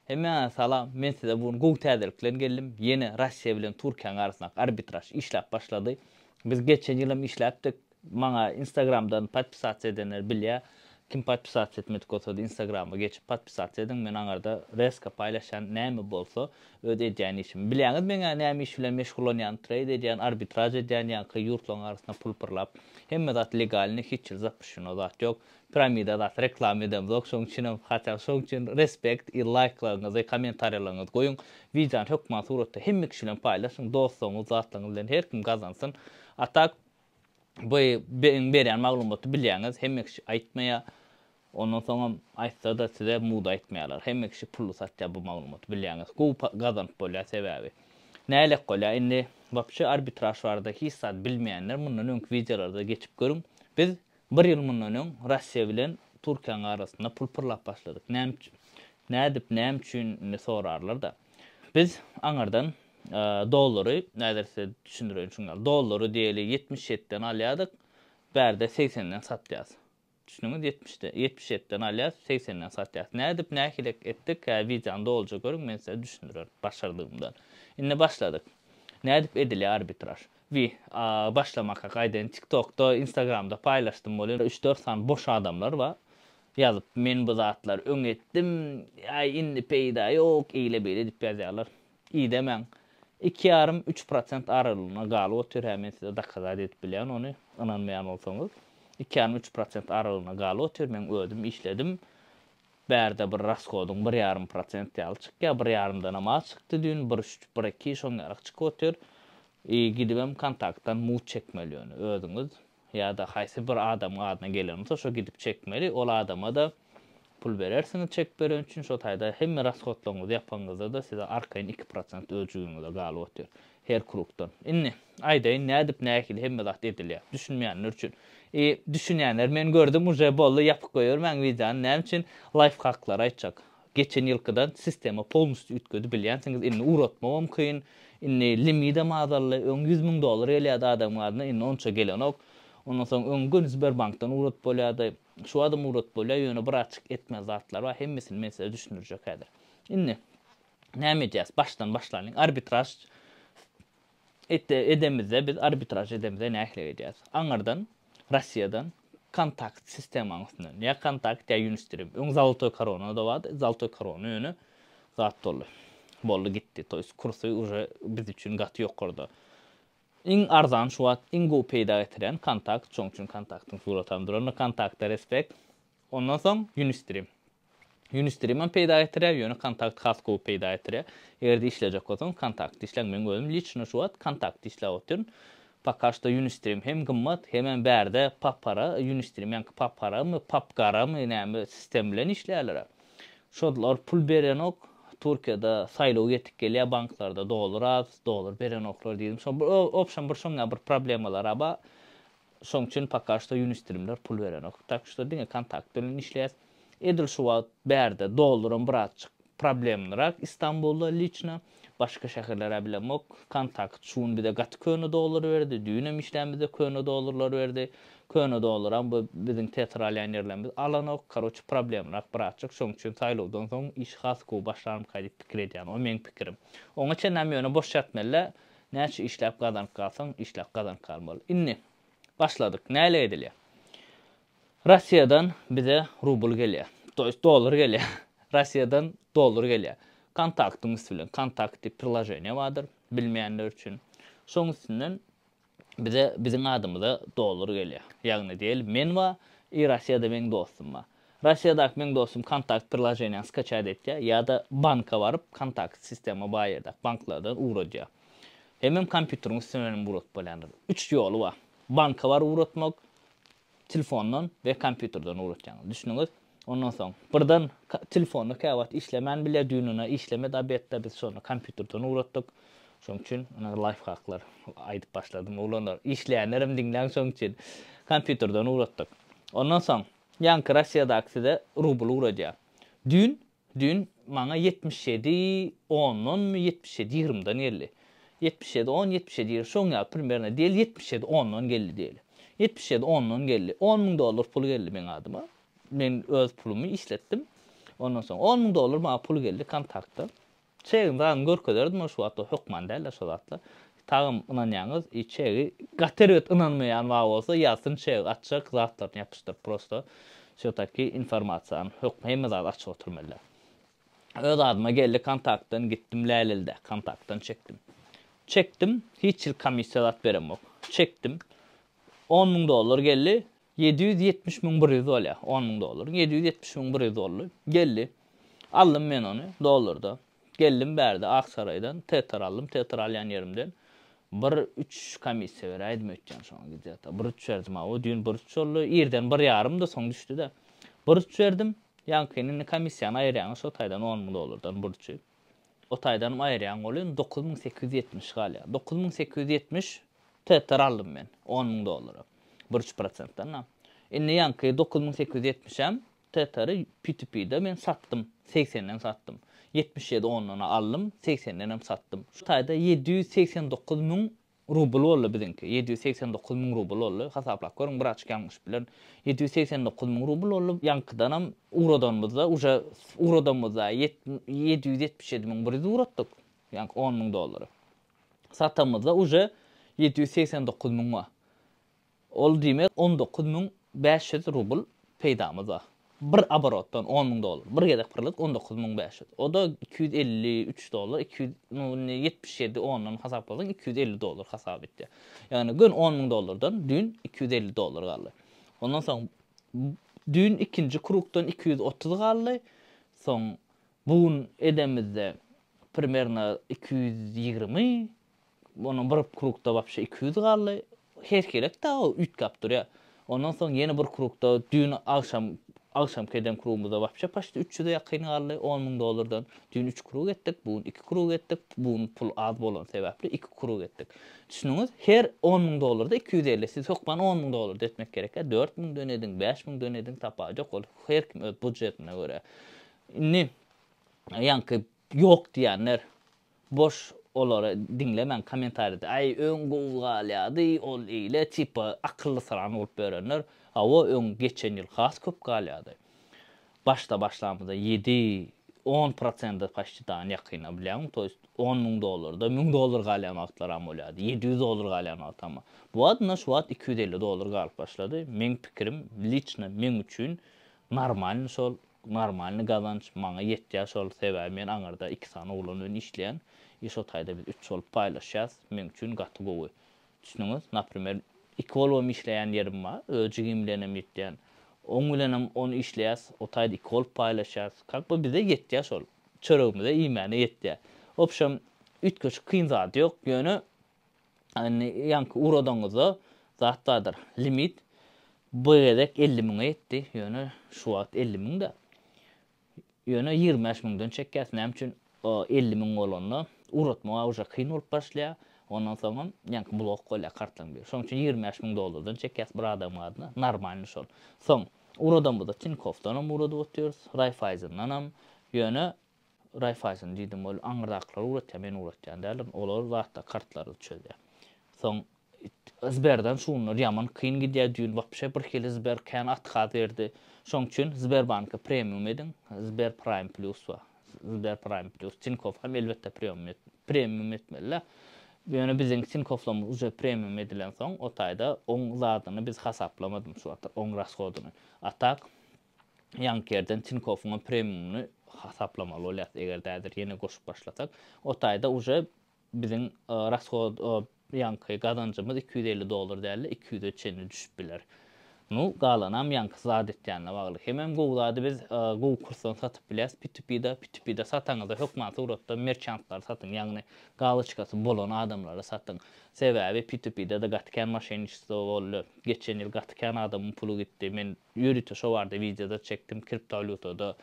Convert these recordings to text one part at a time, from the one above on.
Hemmäňize salam, men size bu gün gowy täzelik bilen geldim, ýene Russiýa bilen Türkiýäň arasyndaky arbitraž işläp başlady. Biz geçen ýyl hem işläpdik, maňa instagramdan podpisasiýa edenler bilýä, kim podpisasiýa etmedik bolsady instagrama geçip podpisasiýa ediň, men aňarda reska paýlaşýan näme bolsa öz edýän işimi. Bilýäňiz meňä näme iş bilen meşgullanýan treýd edýän, arbitraž edýän ýaňky ýurtlaryň arasynda pul pyrlap, hemme zat legalny hiç ýerde zapyşşino zat ýok, Piramida zat reklama edemzok şoň üçinem hatda şoň üçin respect i laýklaryňyzy kommentariýalaryňyzy goýuň widýony hökman suratda hemme kişi bilen paýlaşyň dostlaryňyz zatlaryňyz bilen her kim gazansyn a tak bu meň berýän maglumaty bilýäňiz hemme kişi aýtmaýa ondan soňam aýtsada size muda aýtmaýalar hemme kişi pully satýa bu maglumaty bilýäňiz gowy pa gazanyp bolýa sebäbi nälet bolýa indi wapşe arbitraž barada hiç zat bilmeýänler mundan öňki widýolarda geçip görüň biz Bir ýyl mundan öň Russiýa bilen Türkiýäň arasynda pul pyrlap başladyk. Näme üçin? Nädip, näme üçin indi sorarlar-da. Biz aňyrdan dollary, häzir size düşündireýin şuň ýaly. Dollary diýeli ýetmiş ýetiden alýardyk, bärde segsenden satýas. Düşdüňiz, ýetmişde, ýetmiş ýetiden alýas, segsenden satýas. Nädip, nähili etdik, hä wideony dolyja görüň, men size düşündirerin başardygymdan. Indi başladyk. Nädip edilýär arbitraž? Wi a başlamaka gaýdaýyn tiktokda instagramda paýlaşdym welin üç dört sany boş adamlar bar ýazyp men bu zatlary öň etdim aý indi peýda ýok eýle beýle diýip ýazýarlar idemäň iki ýarym üç prosent aralygynda galyp otyr hä men size dakazat edip bilýän ony ynanmaýan bolsaňyz iki ýarym üç prosent aralygynda galyp otyr men özüm işledim Bärde bir raskodyň bir ýarym prosent ýaly çykýa bir ýarymdanam az çykdy düýn bir üç bir iki şoň ýarak çykyp otyr i gidibem kontaktdan mut çekmeli ýöne özüňiz ýada haýsy bir adamyň adyna gelen bolsa şo gidip çekmeli ol adamada pul berersiňiz çek beren üçin şo taýda hemme raskodlaryňyzy ýapanyňyzdada size arkaýyn iki prosent öz jübiňize galyp otyr Her krugdan. Indi, aýdaýyn, nädip nähili hemme zat edilýär, düşünmeýänler üçin. I, düşünýänler, men gördüm, uje boldy, ýapyp goýbermäň wideony, näme üçin, laýfhaklary aýtjak. Geçen ýylkydan sistema polnusty üýtgedi, bilýänsiňiz, indi ugratmagam kyn, indi limidem azaldy, öň ýüz müň dollar gelýärdi adamyň adyna, indi onça gelenok. Ondan soň, öň göni Sberbankdan ugradyp bolýardy, şu badam ugradyp bolýar, ýöne birazçyk etmeli zatlar bar, hemmesini men size düşündirjek häzir. Indi, Näme edýäs? Başdan başlalyň. Arbitraž edemizde, biz arbitraž edemizde nähili edýäs? Aňyrdan, Russiýadan kontakt sistemaň üstünden. Ýa kontakt, ýa Unistream. Öň Zolotoý korona-da bardy. Zolotoý korona ýöne zat boldy. Boldy gitdi. To ýest kursy uje biz üçin gaty ýokarda. Iň arzan şu wagt, iň gowy peýda getirýän kontakt. Şoň üçin kontaktyň suraty hem durandyr. Kontakta respekt. Ondan soň Unistream. Unistream-am peýda getirýär, ýöne Kontakt has gowy peýda getirýär. Eger-de işlejek bolsaňyz, Kontakty işläň. Meň özüm liçno şu wagt Kontakty işläp otyryn. Poka şto Unistream hem gymmat, hemem bärde papara, Unistream ýaňky paparamy, papgaramy näme sistem bilen işleýärler-ä. Şolar pul berenok, Türkiýede saýlaw ýetik gelýär, banklarda dollar az, dollar berenoklar diýdim. Şo bir obşem bir şoňňa bir problemalary-a bar. Şoň üçin poka şto ýunistrimler pul berenok. Tak şto diňe kontakt bilen işleýäs. Edil şu wagt bärde dollarym birazjyk problemnyrak Istanbulda liçno. Başga şäherler-ä bilemok. Kontakt şu gün bize gaty köne dollar berdi. Düýnem işlän bize köne dollarlar berdi. Köne dollaram bu biziň teatr alýan ýerlerimiz alanok. Karoçe problemnyrak birazjyk. Şoň üçin saýlawdan soň işi has gowy başlarmyka diýip pikir edýän. O meň pikirim. Oňa çenlem ýöne boş ýatmel-le. Näçe işläp gazanyp galsaň, işläp gazanyp gal bol. Indi, başladyk. Näle edilýär? Russiýadan bize rubl gelýär. To ýest dollar gelýär. Russiýadan dollar gelýär. Kontaktyň üsti bilen, Kontakt diýip priloženiýa bardyr, bilmeýänler üçin. Şoň üstünden bize, biziň adymyza dollar gelýär. Ýagny diýeli, men bar, i Russiýada meň dostum bar. Rossiýadaky meň dostum Kontakt priloženiýany skaçat etýär ýa-da banka baryp Kontakt sistema baý ýerdäki banklardan ugradýar. Hemem kompýuteriň üstünden hem ugradyp bolýandyr. Üç ýoly bar. Banka baryp ugratmak, telefondan we kompýuterden ugratýaňyz. Düşdüňiz? Ondan soň birden telefonda käwagt işlemän bilýär, düýnüne işlemedi obedde, biz şonda kompýuterden ugratdyk. Şoň üçin ine laýfhaklar aýdyp başladym. Oglanlar, işleýänlerem diňläň şoň üçin. Kompýuterden ugratdyk. Ondan soň Ýaňky Rossiýadaky size rubl ugradýar. Düýn, düýn maňa ýetmiş ýedi ondanmy, ýetmiş ýedi ýigrimden geldi. Ýetmiş ýedi on, ýetmiş ýedi ýigrim, şoň ýaly primerno diýeli, ýetmiş ýedi ondan geldi diýeli. Ýetmiş ýedi ondan geldi. On müň dollar pul geldi meň adyma. Men öz pulumy işletdim. Ondan soň on müň dollar maňa pul geldi kontaktdan. Çegiň zadyny görkezerdim ol şu wagtda hökman däldir şo zatlar. Tagam ynanýaňyz i çegi gaty erbet ynanmaýan bar bolsa ýazsyn çeg açjak zatlaryny ýapyşdyryp prosto şu taki informasiýany hökm hemme zady açyk oturmelydä. Öz adyma geldi kontaktdan gitdim lälelde kontaktdan çekdim. Çekdim hiç hil komissiýa zat beremok. Çekdim on müň dollar geldi Ýedi ýüz ýetmiş müň bir ýüz bolýa, on müň dollaryň. Ýedi ýüz ýetmiş müň bir ýüz boldy. Geldi. Aldym men ony, dollarda. Geldim bärde, Aksaraýdan, tetar aldym, tetar alýan ýerimden bir üç komissiýa beräýdim öýtýän şoňa gidýata. Bir üç berdim, aw, düýn bir üç boldy. Irden bir ýarymdy, soň düşdi-de. Bir üç berdim. Ýaňkyny indi komissiýany aýyrýaňa şo taýdan on müň dollardan bir üçi. O taýdanam aýyrýan bolýan dokuz müň sekiz ýüz ýetmiş galýar. Dokuz müň sekiz ýüz ýetmiş TTR aldym men on müň dollara. Bir üç prosentden-ä. Indi ýaňky dokuz müň sekiz ýüz ýetmişem TTR-y P2P-de men satdym. Segsenden satdym. Ýetmiş ýedi ondan-a aldym, segsenden hem satdym. Şu taýda ýedi ýüz segsen dokuz müň Rubl boldy biziňki. Ýedi ýüz segsen dokuz müň rubl boldy. Hasaplap görüň, bir açyk ýalňyşyp bilerin. Ýedi ýüz segsen dokuz müň rubl boldy. Ýaňkydanam ugradanymyzda, uje ugradamyzda ýedi ýüz ýetmiş ýedi müň bir ýüz ugratdyk, ýaňky on müň dollary. Satamyzda uje ýedi ýüz segsen dokuz müň Ol diýmek on dokuz müň bäş ýüz rubl peýdamyz bar. Bir oborotdan on müň dollar. Bir gezek pyrladyk on dokuz müň bäş ýüz. O-da iki ýüz elli üç dollar, iki ýüz nu indi ýetmiş ýedi ondan hasaplasaň iki ýüz elli dollar hasap etýär. Ýagny göni on müň dollardan düýn iki ýüz elli dollar galdy. Ondan soň düýn ikinji krugdan iki ýüz otuz galdy. Soň bu gün edemizde primerno iki ýüz ýigrimi. Ondan bir krugda wapşe iki ýüz galdy. Herhilek dagy üýtgäp durýar. Ondan soň ýene bir krugda düýn agşam agşamky eden krugymyzda wapşe paçti üç ýüze ýakyn galdy on müň dollardan. Düýn üç krug etdik, bu gün iki krug etdik. Bu gün pul az bolany sebäpli iki krug etdik. Düşündiňiz? Her on müň dollarda iki ýüz elli. Siz hökman on müň dollarda etmek gerekýär. Dört müňden ediň, bäş müňden ediň, tapawudy ýok. Ol her kim öz budjetine görä. Indi ýaňky ýok diýenler. Boş olary diňlemäň komentaride aý öň gowy galýady ol ile tipa akylly syran bolup ýörenler hawa öň geçen ýyl has köp galýady başda başlamyzda ýedi on prosende paşti dan ýakyna bilýäňmi to ýest on müň dollarda müň dolar galýan wagtlaram bolýady ýedi ýüz dolar galýan wagty amma bu wagt ynha şu wagt iki ýüz elli dolar galyp başlady meň pikirim liçna meň üçin normalny şol Normalny gazanç maňa ýetýär şol sebäbi men aňyrda iki sany oglan bilen işleýän i şo taýda biz üç bolup paýlaşýas meň üçin gaty gowy düşdüňiz naprimer iki bolubam işleýän ýerim bar öz jigim bilenem ýetýän oň bilenem on işleýäs o taýda iki bolup paýlaşýas kak by bize ýetýär şol çöregimize iýmäne ýetýär wobşem üýtgeşik kyn zady ýok ýöne Indi ýaňky ugradygyňyzda zat bardyr. Limit bu gezek elli müňe ýetdi. Ýöne şu wagt elli müň-de. Ýöne ýigrimi bäş müňden çekýäs. Näme üçin? Elli müň bolanda ugratmaga uje kyn bolup başlaýar. Ondan soňam ýaňky blok bolýar kartlaryň biri. Şonuň üçin ýigrimi bäş müň dollardan çekýäs bir adamyň adyna. Normalny şol. Soň ugradamyzda Tinkofdanam ugradyp otyrys, Raiffaisendanam. Ýöne Raiffeisen diýdim, ol aňyrdakylar ugratýar, men ugratýan däldirin, olar zatda kartlary çözýär. Soň Sberden şunlar ýaman kyn gidýär, düýn wapşe bir hili Sber kän otkaz berdi. Şoň üçin Sberbanka premium ediň, Sber Prime Plus bar. Sber Prime Plus, Tinkoff hem elbetde premium etmeli-de. Ýöne biziň Tinkoflymyz uje premium edilensoň, o taýda oň zadyny biz hasaplamadym şu wagtlar, oň rashodyny. A tak, ýaňky ýerden Tinkowyňam premiumyny hasaplamaly bolýas, eger häzir ýene goşup başlasak. O taýda uje biziň rashod ýaňky gazanjymyz iki ýüz elli dollar dälde iki ýüze çenli düşüp biler. Nu, galanam ýaňky zat etýänine bagly. Hemem gowy zady biz gowy kursdan satyp bilýäs P2P-de. P2P-de sataňyzda hökman suratda merçantlary satyň, ýagny galoçkasy bolan adamlary satyň. Sebäbi P2P-de-de gaty kän moşenniçestvo boldy. Geçen ýyl gaty kän adamyň puly gitdi. Men Ýörite şo barada wideoda çekdim kriptowalýutada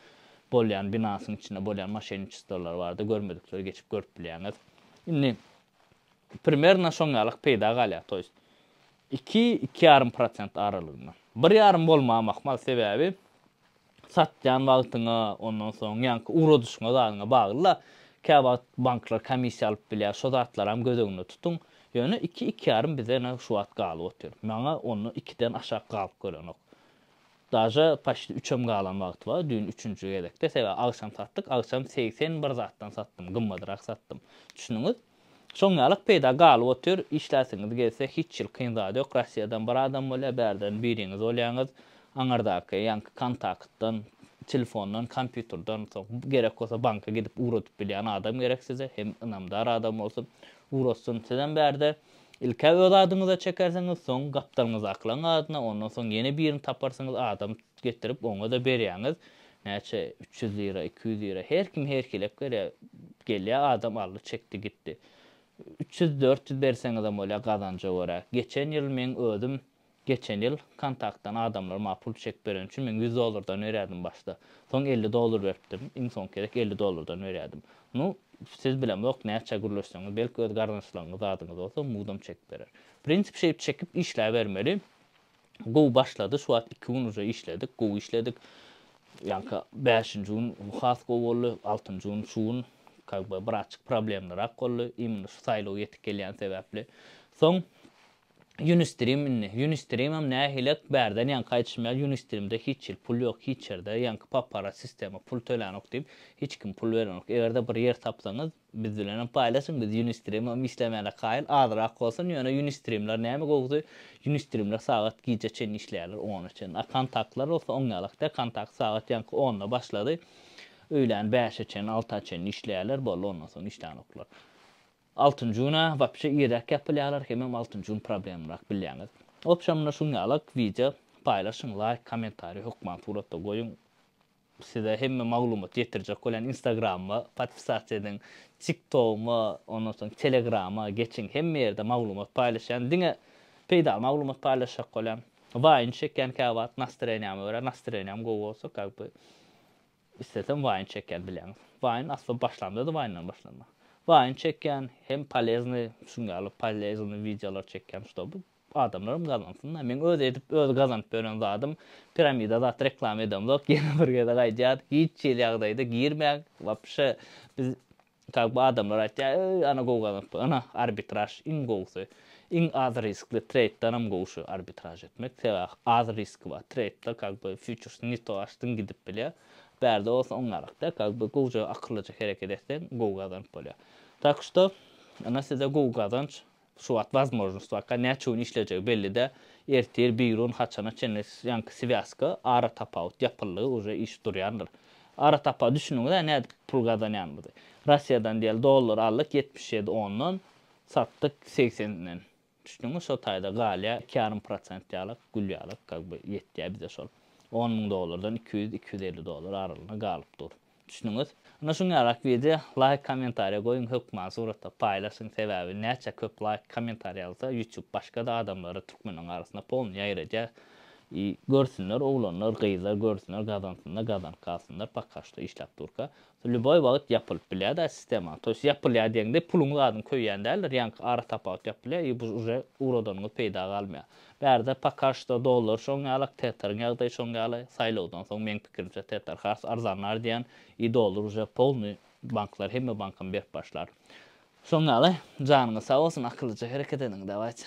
bolýan binansyň içinde bolýan moşenniçestwolar barada görmedikleri geçip görüp bilýäňiz. Indi primerno şoň ýalak peýda galýar to ýest iki iki ýarym prosent aralygynda. Bir ýarym bolmagy mahmal sebäbi satýan wagtyňa ondan soň ýaňky ugradyşyňa zadyňa baglyda käwagt banklar komissiýa alyp bilýär şo zatlaram göz öňünde tutuň Ýöne iki ikýarym bize ene şu wagt galyp otyr. Maňa onda ikiden aşak galyp görenok. Daže paçti üçem galan wagty bar, düýn üçünji gezekde, sebäbi agşam satdyk, agşam segsen bir zatdan satdym, gymmadyrak satdym. Düşündiňiz? Şoň ýalak peýda galyp otyr, işläsiňiz gelse hiç hil kyn zat ýok, Rossiýadan bir adam bolýar, bärden biriňiz bolýaňyz, aňyrdaky ýaňky kontaktdan, telefondan, kompýuterden, soň gerek bolsa banka gidip ugradyp bilýän adam gerek size, hem ynamdar adam bolsun, Gurassyn, sizem bärde ilk-ä öz adyňyza çekersiňiz, soň gapdalňyzy aklaň adyna, ondan soň ýene birini taparsyňyz, adam getirip, oňa-da berýäňiz. Näçe, üç ýüz lira, iki ýüz lira, her kim herkiläp berýär. Gelýär adam, aldy, çekdi, gitdi. Üç ýüz, dört ýüz berseňizem bolýar, gazanja görä. Geçen ýyl meň özüm Geçen ýyl Kontaktdan adamlar maňa pul çek bereni üçin men ýüz dollardan berýärdim başda. Soň elli dollar beripdim. Iň soňky gezek elli dollardan berýärdim. Nu, siz bilemzok, näçä gürleşseňiz, belki öz garyndaşlaryňyz, zadyňyz bolsa, mudam çek berer. Prinsip şeýip çekip işläbermeli. Gowy başlady, şu wagt iki gün uje işledik, gowy işledik. Ýaňky bäşinji gün has gowy boldy, altynjy gün şu gün как бы biraçjyk problemlirak boldy, imенно şu saýlaw ýetip gelýän sebäpli. Soň Ýunistrim indi. Ýunistrimem nähilek bärden ýaňky aýdyşym ýaly Ýunistrimde hiç hil pul ýok hiç ýerde ýaňky paparat sistema pul tölänok diýip hiç kim pul berenok egerde bir ýer tapsaňyz biz bilenem paýlaşyň biz Ýunistrimem işlemäne kaýyl azrak bolsun ýöne Ýunistrimler näme gowusy Ýunistrimler sagat gije çenli işleýärler ona çenli a kontaktlar bolsa oň ýalak däl kontakt sagat ýaňky onda başlady öýlän bäşe çenli alta çenli işleýärler boldy ondan soň işlänoklar. Altynjy güne wapşe irräk ýapylýarlar hemem altynjy gün problemlyrak bilýäňiz. Obşamda şuň ýalyk wideo paýlaşyň laýk kommentariý hökman suratda goýuň size hemme maglumat ýetirjek bolýan instagramyma podpisasiýa ediň tik togyma ondan soň telegrama geçiň hemme ýerde maglumat paýlaşýan diňe peýdaly maglumat paýlaşjak bolýan waýn çekýän käwagt nastreniýama görä nastreniýam gowy bolsa kak by Islesem waýn çekýän bileňiz. Waýn asla başlamda-da waýndan başlanmaly. Waýn çekýän, hem poleznýy, şuň ýaly poleznýy wideolar çekýän ştoby adamlaram gazansynda. Meň öz edip öz gazanyp ýören zadym piramida zat reklama edemzok ýene bir gezek aýdýan hiç hili ýagdaýda girmäň wapşe biz Kak bu adamlar aýtýar, eý ana gowy gazanypdyr, ana arbitraž iň gowusy, iň az riskli treýddanam gowy şu arbitraž etmek, sebäh az riski bar treýdda kak bu fýuçers ne to açdyň gidip bilýär, bärde bolsa oňňarak dä kak bu gowja akyllyja hereket etseň gowy gazanyp bolýar. Tak şto ana size gowy gazanç, Şu wagt wazmojnostwaka näçe gün işlejegi belli-dä, ertir, birun, haçana çenli ýaňky swýazka, aratapawut, ýapyldy, uje iş durýandyr. Aratapawut, düşündiňiz-ä nädip pul gazanýanymyzy. Russiýadan diýeli dollar aldyk ýetmiş ýedi ondan, satdyk segsenden. Düşdüňmi, şo taýda galýa iki ýarym prosent ýalak, gül ýalak, kak by, ýetýä bize şol. On müň dollardan iki ýüz, iki ýüz elli dollar aralygynda galyp dur. Düşündüňiz? Ine şuň ýalak wideo laýk kommentariýa goýuň hökman suratda paýlaşyň sebäbi näçe köp laýk kommentariýa alsa ýutub başgada adamlara türkmeniň arasynda polny ýaýradýar i görsünler oglanlar gyzlar görsünler gazansynlar gazanyp galsynlar poka şto işläp durka lýuboý wagyt ýapylyp bilýäda sistema toýs ýapylýa diýeňde puluň zadyň köýýän däldir ýaňky ara tapawut ýapylýa i bu uje ugradanyňyz peýda galmaýa Bärde poka şto dollar şoň ýalak tetaryň ýagdaýy şoň ýaly saýlawdan soň meň pikirimçe tetar has arzanlar diýän i dollar uje polny banklar hemme bankam berip başlar şoň ýaly janyňyz sag bolsun akyllyja hereket ediň dawayt.